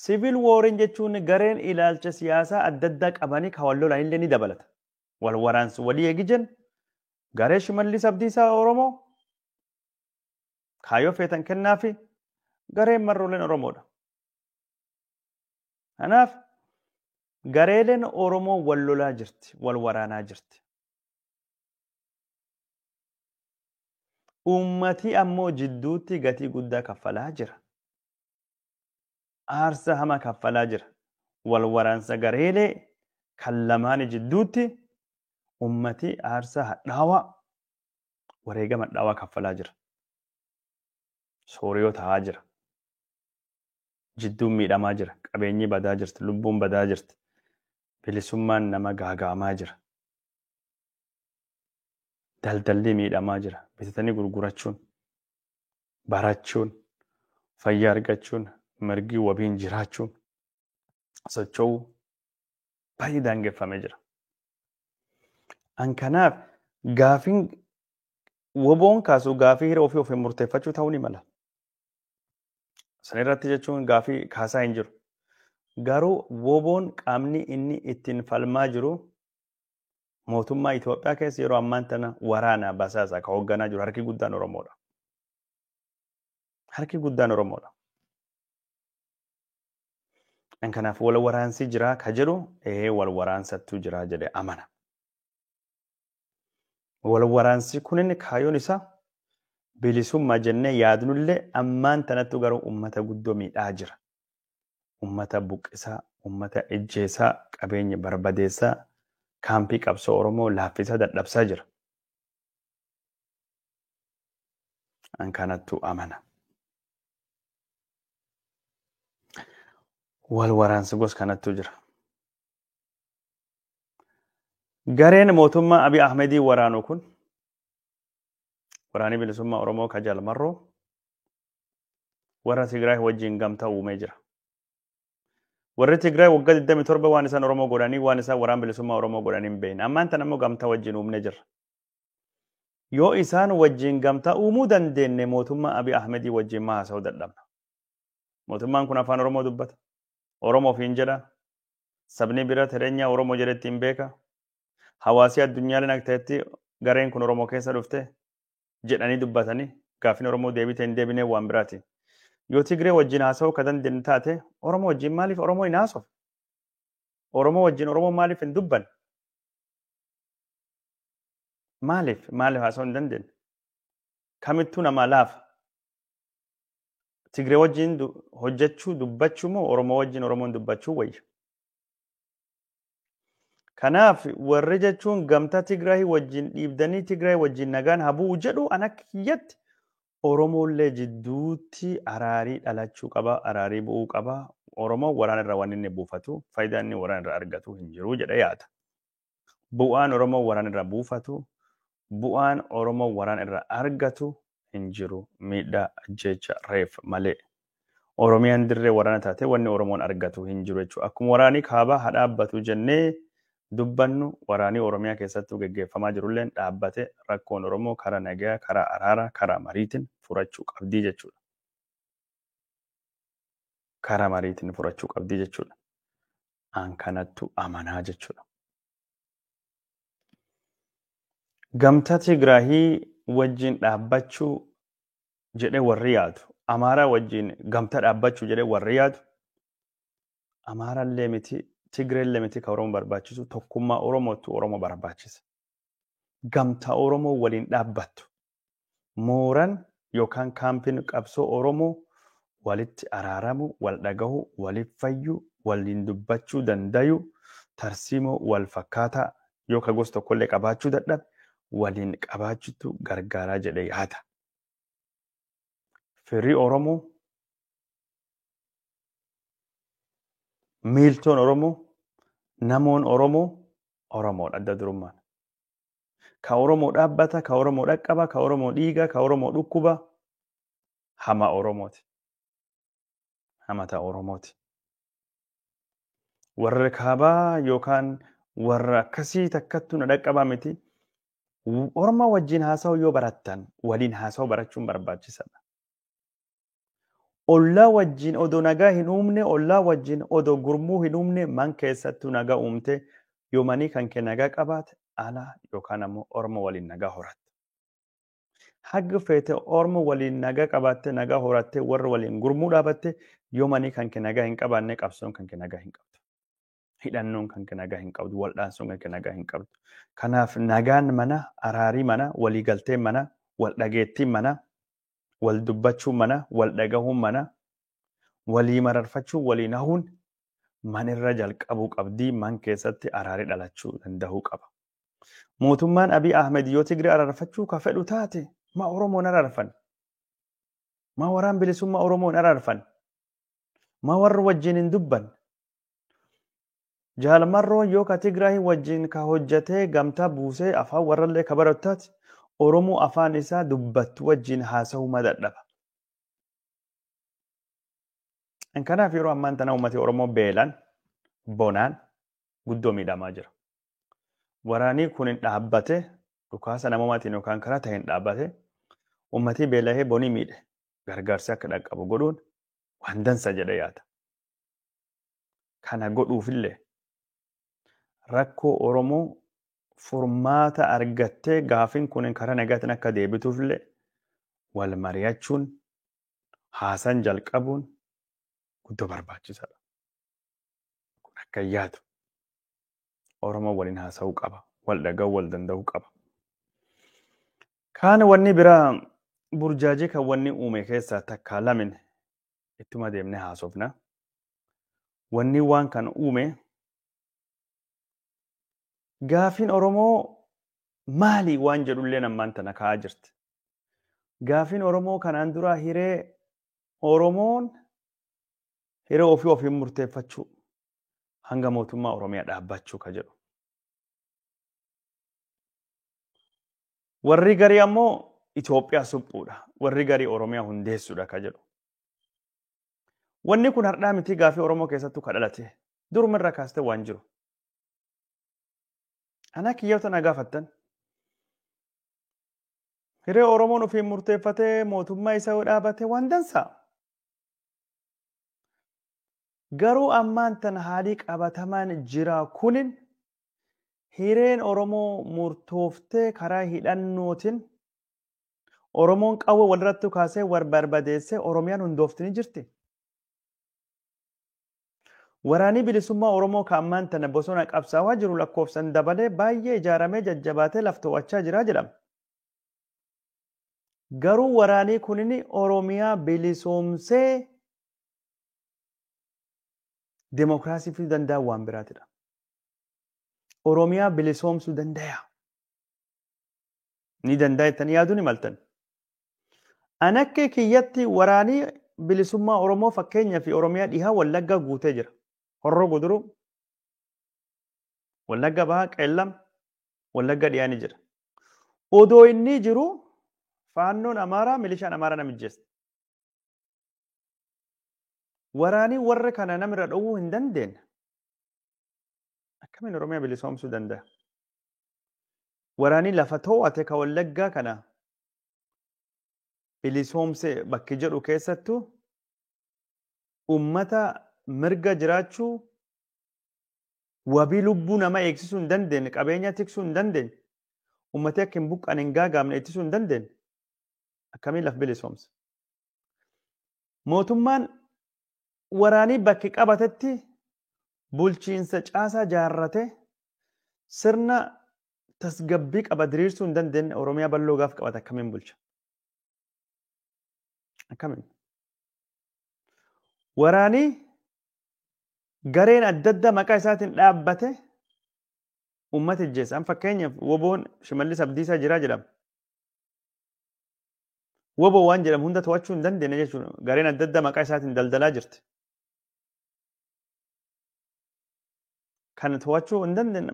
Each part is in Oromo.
Siviil wooriin jechuun gareen ilaalcha siyaasaa adda addaa qabanii kan wal lolan illee ni dabalata. Wal waraansi walii eegi jennu garee Shimallis Abdiisaa Oromoo kaayoo feetan kennaa fi gareen marrooleen Oromoodha. Kanaaf gareeleen Oromoo wal lolaa jirti, wal waraanaa jirti. Uummatii ammoo jidduutti gatii guddaa kaffalaa jira. Aarsa hama kaffalaa jira. Wal waraansa gareelee kan lamaani jidduutti uummatii aarsa hadhaawaa wareegama hadhaawaa kaffalaa jira. Sooriyoo ta'aa jira. Jidduun miidhamaa jira. Qabeenyi badaa jirti. Lubbuun badaa jirti. Bilisummaan nama gaaga'amaa jira. Daldalli miidhamaa jira. Bitatanii gurgurachuun, barachuun, fayyaa argachuun, mirgi wabiin jiraachuun, socho'uu baay'ee daangeffamee jira. An kanaaf gaafiin woboon kaasu gaafii hiree ofii ofiin murteeffachuu ta'uu ni mala. Sana irratti jechuun gaafii kaasaa hin jiru. Garuu woboon qaamni inni ittiin falmaa jiru Mootummaa Itoophiyaa keessa yeroo ammaan tana waraanaa basaasaa kan hoogganaa jiru harki guddaan Oromoodha. Harki guddaan Oromoodha. Kan kanaaf wal waraansi jiraa ka jedhu ee wal waraansattuu jiraa jedhe amana. Wal waraansi kunin kaayyoon isaa bilisummaa jennee yaadnullee ammaan tanattu garuu uummata guddoo miidhaa jira. ummata buqqisaa, ummata ijjeesaa, qabeenya barbadeessaa, kaampii qabsoo Oromoo laaffisaa dadhabsaa jira. An kanattu amana. Wal waraansi gos kanattu jira. Gareen mootummaa Abiy Ahmedii waraanu kun waraanni bilisummaa Oromoo ka Jaal Marroo warra Tigraay wajjin gamtaa uumee jira. Warri Tigraay waggaa 27 waan isaan Oromoo godhanii waan isaan waraan bilisummaa Oromoo godhanii hin beekne. Ammaan tan ammoo gamtaa wajjin uumne jirra. Yoo isaan wajjin gamtaa uumuu dandeenye mootummaa Abiy Ahmedii wajjin maa haasa'uu dadhabna. Mootummaan kun afaan Oromoo dubbata. Oromoof hin jedha. Sabni bira Tireenyaa Oromoo jedhetti hin beeka. Hawaasii addunyaaleen akka ta'etti gareen kun Oromoo keessa dhufte. jedhanii dubbatanii gaaffiin Oromoo deebii ta'e hin deebinee waan biraati. Yoo Tigree wajjin haasa'uu ka dandeenye taate Oromoo wajjin maaliif Oromoo hin haasofne? Oromoo wajjin Oromoo maaliif hin dubbanne? Maaliif maaliif haasa'uu hin dandeenye? Kamittuu namaa laafa. Tigree wajjin du- hojjechuu dubbachuu moo Oromoo wajjin Oromoon dubbachuu wayya? Kanaaf warri jechuun gamtaa Tigraay wajjin dhiibdanii Tigraay wajjin nagaan haa bu'u jedhu an akka kiyyatti Oromoollee jidduutti araarii dhalachuu qaba, araarii bu'uu qaba. Oromoo waraana irraa waan inni buufatu, faayidaa inni waraana irraa argatu hin jiru jedha yaada. Bu'aan Oromoo waraana irraa buufatu bu'aan Oromoon waraana irraa argatu hin jiru. Miidhaa, ajjeecha, reef malee. Oromiyaan dirree waraana taatee wanni Oromoon argatu hin jiru jechuudha. Akkuma waraanii kaabaa haa dhaabbatu jennee dubbannu waraanii Oromiyaa keessattuu geggeeffamaa jirulleen dhaabbate rakkoon Oromoo karaa nagaa, karaa araaraa, karaa mariitiin furachuu qabdii jechuudha. Karaa mariitiin furachuu qabdii jechuudha. An kanattu amanaa jechuudha. Gamtaa Tigraahii wajjin dhaabbachuu jedhee warri yaadu, Amaaraa wajjin gamtaa dhaabbachuu jedhee warri yaadu, Amaaraa illee miti, Tigree illee miti kan Oromoo barbaachisu, tokkummaa Oromootu Oromoo barbaachisa. Gamtaa Oromoo waliin dhaabbattu, Mooran yookaan kaampin qabsoo Oromoo walitti araaramu, wal dhagahu, walif fayyu, waliin dubbachuu dandayu, tarsiimoo wal fakkaataa yoo ka gos tokkollee qabaachuu dadhabe waliin qabaachutu gargaaraa jedhe yaada. Firri Oromoo, miiltoon Oromoo, namoon Oromoo Oromoodha adda durummaan. Ka Oromoo dhaabbata, ka Oromoo dhaqqaba, ka Oromoo dhiiga, ka Oromoo dhukkuba. Hama Oromooti. Hamata Oromooti. Warra kaabaa yookaan warra akkasii takkattu na dhaqqabaa miti. Orma wajjin haasa'uu yoo barattan waliin haasa'uu barachuun barbaachisaadha. Ollaa wajjin odoo nagaa hin uumne, ollaa wajjin odoo gurmuu hin uumne man keessattuu nagaa uumte. Yoo manii kan kee nagaa qabaate ala yookaan ammoo orma waliin nagaa horatta. Haga feete orma waliin nagaa qabaattee nagaa horattee warra waliin gurmuu dhaabatte yoo manii kan kee nagaa hin qabaanne qabsoon kan kee nagaa hin qabdu. Hidhannoon kan kee nagaa hin qabdu. Waldhaansoon kan kee nagaa hin qabdu. Kanaaf nagaan mana, araarii mana, waliigalteen mana, waldhageettiin mana wal dubbachuun mana, wal dhagahuun mana, walii mararfachuun waliin hahuun manirra jalqabuu qabdi, man keessatti araari dhalachuu dandahuu qaba. Mootummaan Abiy Ahmed yoo Tigre araarfachuu ka fedhu taate ma Oromoon araarfan? Ma waraan bilisummaa Oromoon araarfan? Ma warra wajjin hin dubban? Jaal marroon yoo ka Tigraahi wajjin ka hojjatee gamtaa buusee afaan warrallee ka baratu taate Oromoo afaan isaa dubbattu wajjin haasahuu ma dadhaba. Kanaaf yeroo ammaan tana uummati Oromoo beelaan, bonaan guddoo miidhamaa jira. Waraanii kun hin dhaabbate dhukaasa namoomatiin yookaan karaa ta'een dhaabbate uummatii beelahee bonii miidhe gargaarsi akka dhaqqabu godhuun waan dansa jedhee yaada. Kana godhuufillee rakkoo Oromoo furmaata argattee gaafin kun karaa nagaatiin akka deebituufillee wal mari'achuun haasan jalqabuun guddoo barbaachisaadha. Kun akka hin yaadu. Oromoo waliin haasa'uu qaba. Wal dhaga'uu wal danda'uu qaba. Kaan wanni biraa burjaajii kan wanni uume keessaa takkaa lamin ittuma deemne haasofna. Wanni waan kana uume gaafiin Oromoo maali waan jedhullee ammaan tana ka'aa jirti. Gaafiin Oromoo kanaan duraa hiree Oromoon hiree ofii ofiin murteeffachuu hanga mootummaa Oromiyaa dhaabbachuu ka jedhu. Warri garii ammoo Itoophiyaa suphuudha. Warri garii Oromiyaa hundeessuudha ka jedhu. Wanni kun hardhaa mitii gaafii Oromoo keessattuu ka dhalate. Duruma irraa kaastee waan jiru. Anaa kiyyoota na gaafattan. Hiree Oromoon ofiin murteeffatee mootummaa isa yoo dhaabate waan dansaa. Garuu ammaan tan haalii qabatamaan jiraa kunin Hireen Oromoo murtooftee karaa hidhannootiin Oromoon qawwee walirratti kaasee wal barbadeessee Oromiyaan hundoofti ni jirti. Waraanii bilisummaa Oromoo kan ammaan tana bosona qabsaawaa jiru lakkoofsan dabalee baay'ee ijaaramee jajjabaatee laf to'achaa jira jedhama. Garuu waraanii kunin Oromiyaa bilisoomsee demokiraasii fiduu danda'an waan biraatidha. Oromiyaa bilisoomsuu dandaya. Ni danda'a jettanii yaaduu ni maltan. An akka kiyyatti waraanii bilisummaa Oromoo fakkeenya fi Oromiyaa dhihaa Wallaggaa guutee jira. Horroo guduruu, Wallagga bahaa qeellam, Wallagga dhiyaa ni jira. Odoo inni jiru faannoon Amaaraa milishaan Amaaraa na mijjeessa. Waraanii warra kana namirra dhowwuu hin dandeenye. Akkamiin Oromiyaa bilisoomsuu danda'a? Waraanii lafa too'ate ka Wallaggaa kana bilisoomse bakki jedhu keessattuu uummata mirga jiraachuu wabii lubbuu nama eegsisuu hin dandeenye, qabeenya tiksuu hin dandeenye, uummati akka hin buqqaan hin gaagaamne ittisuu hin dandeenye akkamiin laf bilisoomse? Mootummaan Waraanii bakke qabatetti bulchiinsa caasaa jaarrate sirna tasgabbii qaba diriirsuu hin dandeenye Oromiyaa balloo gaaf qabate akkamiin bulcha? Akkamiin? Waraanii gareen adda addaa maqaa isaatiin dhaabbate uummata ijjeessa. Fakkeenyaaf woboon Shimallis Abdiisaa jiraa jedhama. Woboo waan jedhamu hunda to'achuu hin dandeenye jechuudha. Gareen adda addaa maqaa isaatiin daldalaa jirti. Kan to'achuu hin dandeenye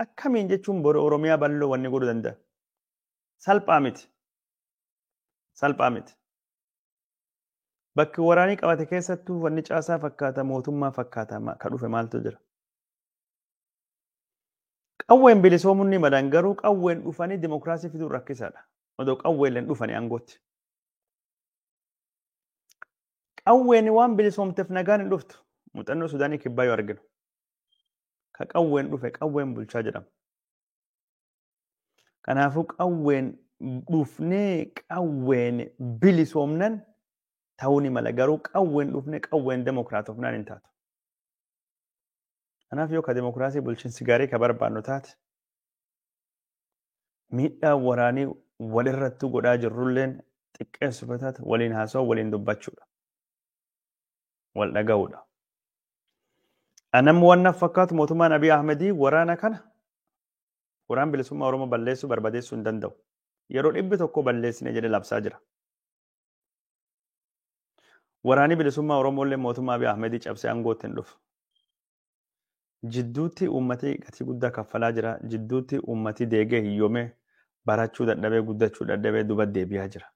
akkamiin jechuun boru Oromiyaa bal'oo wanni godhuu danda'a. Salphaa miti. Salphaa miti. Bakki waraanii qabate keessattuu wanni caasaa fakkaata mootummaa fakkaata ka dhufe maaltu jira. Qawween bilisoomuun ni malan garuu qawween dhufanii dimokiraasii fiduun rakkisaadha. Odoo qawweelleen dhufanii aangootti. Qawween waan bilisoomteef nagaan hin dhuftu. Muuxannoo Sudaanii kibbaa yoo arginu. Ka qawween dhufe qawween bulchaa jedhama. Kanaafuu qawween dhufnee qawween bilisoomnan ta'uu ni mala garuu qawween dhufnee qawween demokraatofnaan hin taatu. Kanaaf yoo ka demokiraasii bulchiinsi gaarii ka barbaannu taate miidhaa waraanii walirrattuu godhaa jirrulleen xiqqeessuuf yoo taate waliin haasawaa waliin dubbachuudha. Wal dhaga'uudha. Anammoo waan fakkaatu mootummaan Abiy Ahmedii waraana kana waraan bilisummaa Oromoo balleessuu barbadeessuu hin danda'u. Yeroo dhibbi tokko balleessine jedhe labsaa jira. Waraanii bilisummaa Oromoollee mootummaa Abiy Ahmedii cabsee aangootti hin dhufu. Jidduutti uummati gatii guddaa kaffalaa jira. Jidduutti uummati deegee hiyyoomee barachuu dadhabee guddachuu dadhabee duba deebi'aa jira.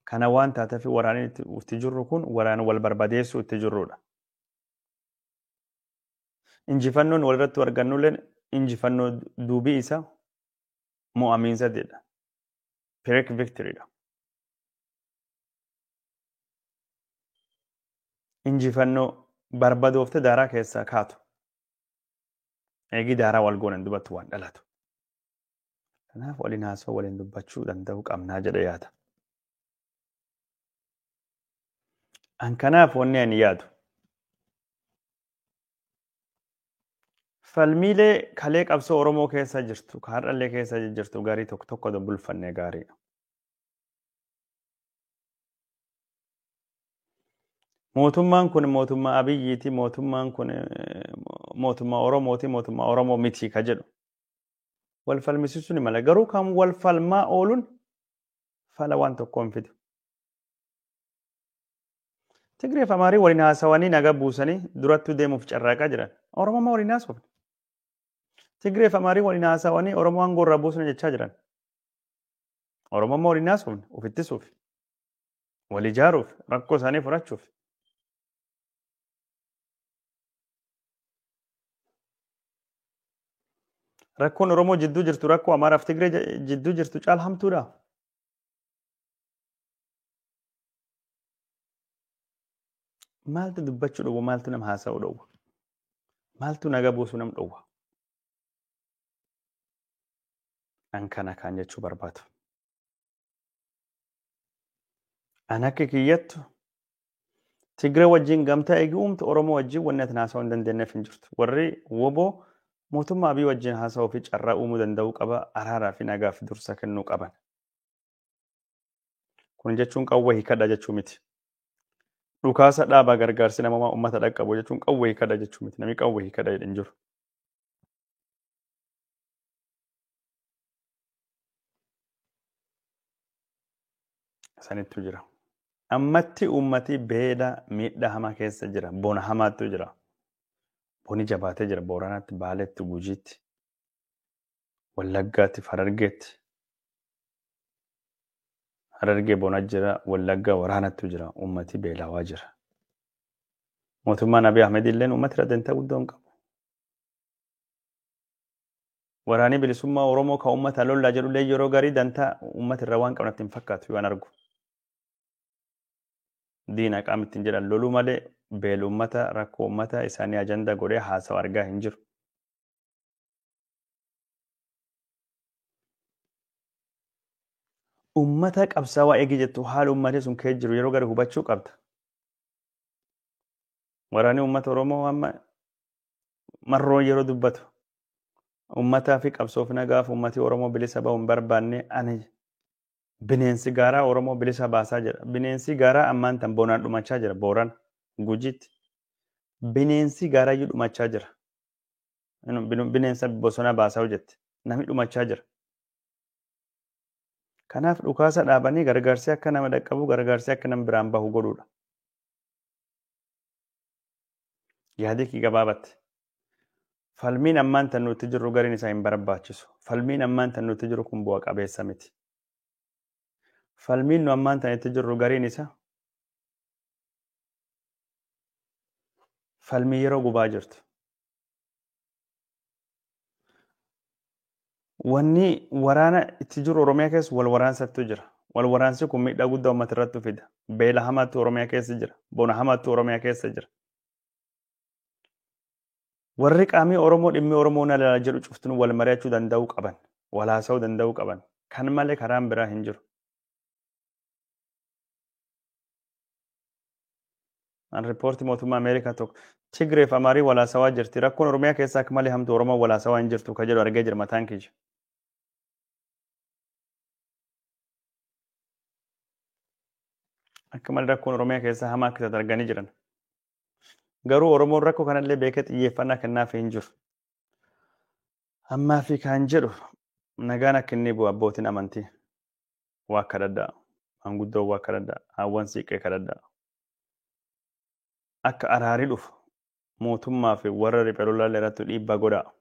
Kana waan taateef waraanni itti itti jirru kun waraana wal barbadeessuu itti jirrudha. Injifannoon walirratti argannulleen injifannoo duubii isa mo'amiinsa jedha. Pyrrhic victory dha. Injifannoo barbadoofte daaraa keessaa kaatu. Eegii daaraa wal goonan dubattu waan dhalatu. Kanaaf waliin haasoo waliin dubbachuu danda'uu qabnaa jedhe yaada. An kanaaf wanni ani yaadu Falmiilee kalee qabsoo Oromoo keessa jirtu, ka har'allee keessa jirtu garii tokko tokko bulfannee gaariidha. Mootummaan kun mootummaa Abiyyiiti, mootummaan kun eh, mo- mootummaa Oromooti, mootummaa Oromoo miti ka jedhu. Wal falmisiisuun hin mala. Garuu kan wal falmaa ooluun fala waan tokkoo hin fidu. Tigree fi Amaarii waliin haasawanii naga buusanii durattuu deemuuf carraaqaa jiran. Oromoo maa waliin haasofne? Tigree fi Amaarii waliin haasawanii Oromoo aangoo irraa buusna jechaa jiran. Oromoo maa waliin haasofne? Of ittisuuf. Wal ijaaruuf. Rakkoo isaanii furachuuf. Rakkoon Oromoo jidduu jirtu rakkoo Amaaraa fi Tigree jidduu jirtu caala hamtuudha. Maaltu dubbachuu dhowwa? Maaltu nama haasa'uu dhowwa? Maaltu naga buusuu nam dhowwa? An kana kaan jechuu barbaadu. An akka kiyyattu Tigre wajjin gamtaa eegi uumtu Oromoo wajjin wanni ati haasa'uu hin dandeenyeef hin jirtu. Warri woboo mootummaa Abiy wajjin haasa'uu fi carraa uumuu danda'uu qaba araaraa fi nagaaf dursa kennuu qaban. Kun jechuun qawwee hiikadha jechuu miti. Dhukaasa dhaabaa gargaarsi namoomaa uummata dhaqqabu jechuun qawwee hiikadha jechuu miti. Namni qawwee hiikadha jedhe hin jiru. Sanittu jira. Ammatti uummati beela miidhaa hamaa keessa jira. Bona hamaattu jira. Boni jabaatee jira. Booranaatti, Baaleetti, Gujiitti. Wallaggaatti fi Harargeetti. Harargee bona jira, Wallaggaa waraanattu jira, uummati beelawaa jira. Mootummaan Abiy Ahmed illeen uummati irra dantaa guddoo hin qabu. Waraanii bilisummaa Oromoo kan uummata lollaa jedhu illee yeroo garii dantaa uummata irra waan qabnatti hin fakkaatu waan argu. Diina qaama ittiin jedhan loluu malee beela uummata rakkoo uummata isaanii ajanda godhee haasawa argaa hin jiru. Ummata qabsaawaa eegi jettu haala ummati sun kee jiru yeroo gadi hubachuu qabda. Waraanni ummata Oromoo amma marroon yeroo dubbatu ummataa fi qabsoof nagaaf ummati Oromoo bilisa bahu hin barbaanne ani bineensi gaaraa Oromoo bilisa baasaa jira. Bineensi gaaraa ammaan tan bonaan dhumachaa jira booran gujitti. Bineensi gaaraa iyyuu dhumachaa jira. Inu- binu- Bineensa bosona baasaa hojjette. Namni dhumachaa jira. Kanaaf dhukaasa dhaabanii gargaarsi akka nama dhaqqabu gargaarsi akka nama biraan bahu godhuudha. Yaadii kee gabaabatti. Falmiin ammaan tan nuti jirru gariin isaa hin barbaachisu. Falmiin ammaan tan nuti jirru kun bu'a qabeessa miti. Falmiin nu ammaan tan itti jirru gariin isaa falmii yeroo gubaa jirtu. Wanni waraana itti jiru Oromiyaa keessa wal waraansattu jira. Wal waraansi kun miidhaa guddaa uummata irratti fida. Beela hamaatu Oromiyaa keessa jira. Bona hamaatu Oromiyaa keessa jira. Warri qaamii Oromoo dhimmi Oromoo na ilaalaa jedhu cuftin wal mari'achuu danda'uu qaban. Wal haasa'uu danda'uu qaban. Kan malee karaan biraa hin jiru. An riippoortii mootummaa Ameerikaa tokko Tigree fi Amaarii walaasawaa jirti. Rakkoon Oromiyaa keessaa akka malee hamtu Oromoo walaasawaa hin jirtu ka jedhu argee jira mataan kiyya. Akka malee rakkoon Oromiyaa keessaa hamaa akka taate arganii jiran. Garuu Oromoon rakkoo kanallee beekee xiyyeeffannaa kennaaf hin jiru. Ammaa fi kan jedhu nagaan akka inni bu'u abbootiin amantii. waa kadhadhaa. Maanguddoo waa kadhadhaa. Haawwan siiqqee kadhadhaa. Akka araari dhufu mootummaa fi warra riphee lolaalee irratti dhiibbaa godhaa.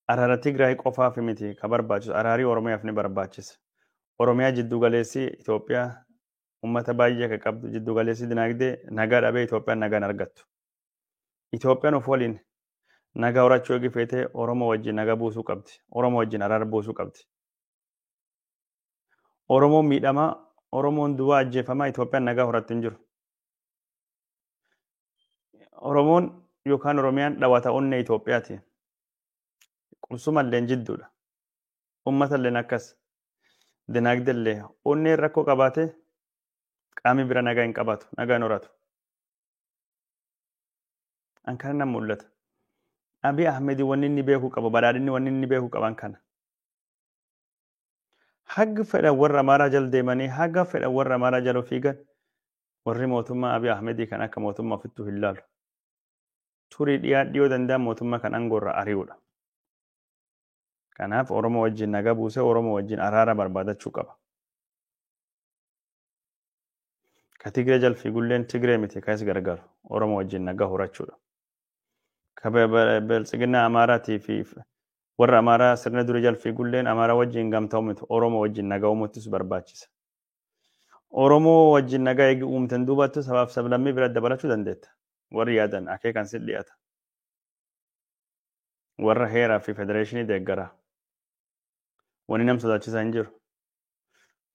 Araara Tigraay qofaaf miti ka barbaachisu araarii Oromiyaaf ni barbaachisa. Oromiyaa jidduu galeessi Itoophiyaa uummata baay'ee kan qabdu jidduu galeessi dinaagdee nagaa dhabee Itoophiyaan nagaan argattu. Itoophiyaan of waliin nagaa horachuu eegi feetee Oromoo wajjin nagaa buusuu qabdi. Oromoo wajjin araara buusuu qabdi. Oromoon miidhamaa, Oromoon duwwaa ajjeefamaa Itoophiyaan nagaa horattu hin jiru. Oromoon yookaan Oromiyaan dhawata onnee Itoophiyaati. Qubsumalleen jidduudha. Uummatalleen akkas. Dinaagdellee onneen rakkoo qabaatee qaamni bira nagaa hin qabaatu, nagaa hin horatu. An kana nan mul'ata. Abiy Ahmed wanni inni beekuu qabu, badhaadhinni wanni inni beekuu qaban kana. Haga fedhan warra Amaaraa jala deemanii haga fedhan warra Amaaraa jala fiigan warri mootummaa Abiy Ahmedii kan akka mootummaa ofittuu hin laalu. Turii dhiyaa dhiyoo danda'an mootummaa kan aangoo irraa ari'uudha. Kanaaf Oromoo wajjin nagaa buusee Oromoo wajjin araara barbaadachuu qaba. Ka Tigree jala fiigulleen Tigree miti kan is gargaaru Oromoo wajjin nagaa horachuudha. ka be- be- biltsiginnaa Amaaraatii fi warra Amaaraa sirna duri jalfii gulleen Amaaraa wajjin gamtoomutu Oromoo wajjin nagaa uumuuttis barbaachisa. Oromoo wajjin nagaa eegi uumten duubattu sabaaf sablammii bira dabalachuu dandeetta. Warri yaadan akeekan si dhiyaata. Warra heeraa fi federeeshinii deeggara. Wani nam sodaachisa hin jiru.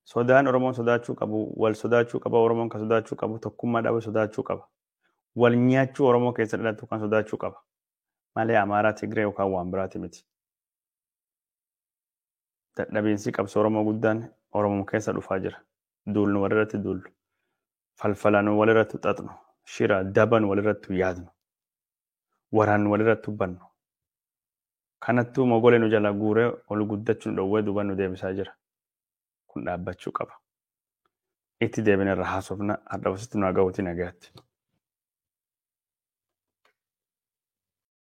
Sodaan Oromoon sodaachuu qabu, wal sodaachuu qaba Oromoon kan sodaachuu qabu, tokkummaa dhabu sodaachuu qaba. Wal nyaachuu Oromoo keessa dhalatu kan sodaachuu qaba. Malee Amaaraa, Tigree yookaan waan biraati miti. Dadhabiinsi qabsoo Oromoo guddaan Oromoo keessa dhufaa jira. Duulnu walirratti duullu. Falfalanu walirratti xaxnu. Shira daban walirratti yaadnu. waraannu walirratti hubbannu. Kanattuu mogolee nu jala guuree ol guddachu nu dhowwee duuba nu deebisaa jira. Kun dhaabbachuu qaba. Itti deebine irra haasofna hardhaaf asitti nu haa gahuutii nagayaatti.